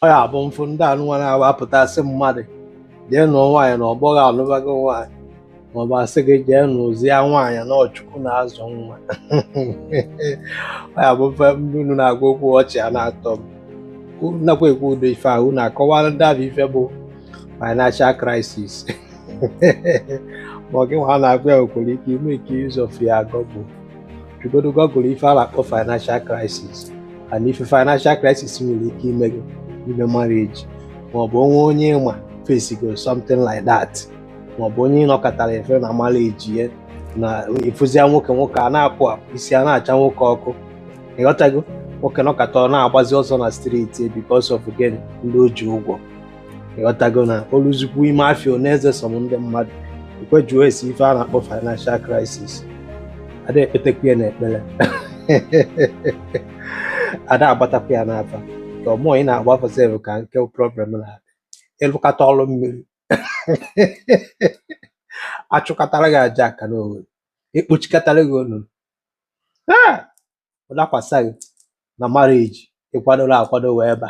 ọ ya bụ m fụ ndị anụnwa na-apụta sị mmadụ jee nụọ nwaanyị na ọgbọ gị anụbago nwaanyị maọbụ asị gị jee nụzie nwaanyị na ọ chukwu na-azụ nwa ọ ya bụ m fụ ndị unu na-agwa okwu ọchị a na-atọ m Unu nakwa ekwu ụdị ife ahụ unu akọwara ndị ahụ ife bụ financial crisis ma ọ gị nwa na-agwa ya i nwere ike ịmake use of your Google jegodo Google ife a na-akpọ financial crisis and ife financial crisis nwere ike ime gị ime marriage maọbụ o nwee onye ị ma facigo something like that maọbụ onye nọkatara efe na marriage ya na ị fụzia nwoke nwoke a na-apụ apụ isi a na-acha nwoke ọkụ ịghọtago nwoke nọkata ọ na-agbazi ọsọ na street because of gịnị ndị o ji ụgwọ ịghọtago na o luzikwuo ime afịa ọ na-eze some ndị mmadụ ekwejuo esi ife a na-akpọ financial crisis a da ekpetekwu ya n'ekpere a da agbatakwu ya n'afa ka ọmụọ ị na-agba afa sef ka nke problem na-adị ị lụkata ọrụ mmiri achụkatara gị aja aka n'owere ekpochikatara gị onunu ọ dakwasa gị na marriage ị kwadorọ akwado wee ba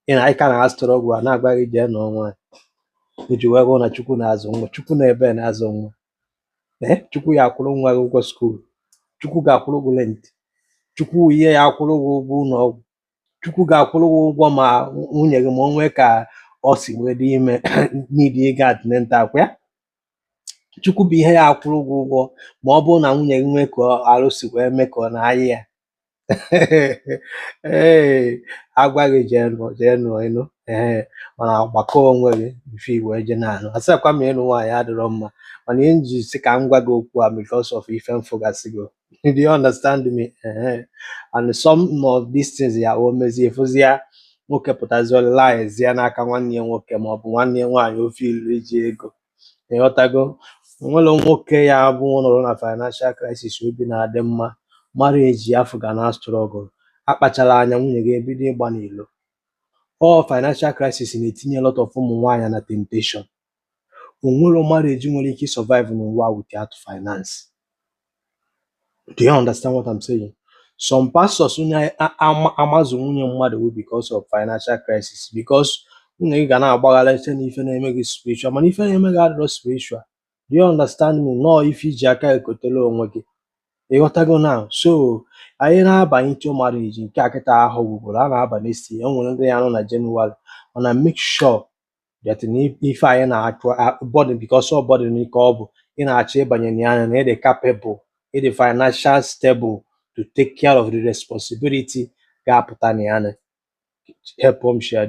ị na ị ka na-struggle a na-agwa gị jee nụọ ma i jirọ ego na chukwu na-azụ nwa chukwu nọ ebee na-azụ nwa ee chukwu ya-akwụrụ nwa gị ụgwọ school chukwu ga-akwụrụ gị rent chukwu ihe ya-akwụrụ gị ụgwọ ụlọ ọgwụ chukwu ga-akwụrụ gị ụgwọ ma nwunye gị ma o nwee ka o si wee dị ime need ịga antenatal ọkwa ya chukwu bụ ihe ya-akwụrụ gị ụgwọ ma ọ bụrụ na nwunye gị nwee ka arụ si wee mee ka ọ na-ayị ya ee agwa gị jee nụọ jee nụọ ị nụọ ee mana gbakọọ onwe gị mfe i wee jee na-anụ asịkwa m ịnụ nwaanyị adịrọ mma mana ihe m ji sị ka m gwa gị okwu a because of ife m fụgasịgo do you understand me Ehe. and some of these things ya o mezie ị fụzia nwoke pụtazie ọ relyzia n'aka nwanne ya nwoke ma ọ bụ nwanne ya nwaanyị ofe ilu iji ego ịghọtago o nwerọ nwoke ya bụ nọrọ na financial crisis obi na-adị mma marriage afụ ga na-struggle akpacharọ anya nwunye gị ebido ịgba n'ilo ọ financial crisis na-etinye lot of ụmụ nwaanyị na temptation o nwerọ marriage nwere ike survive n'ụwa without finance do you understand what I'm saying some pastors amazụ nwunye mmadụ bụ because of financial crisis because nwunye gị ga na-agbaghari ife na ife na-eme gị spiritual mana ife na-eme gị adịrọ spiritual do you understand me na ọ ife i ji aka kotere onwe gị ịghọtago now so anyị na-abanye into marriage nke a kịta afọ gwụgoro a na-abanye isi e nwere ndị ya-anụ na January mana make sure but n'ife anyị na-achụ bọdụ because ọ bụdị n'ike ọ bụ ị na-achọ ịbanye na ya na ị dị capable ị dị financial stable to take care of the responsibility ga-apụta na ya na help m share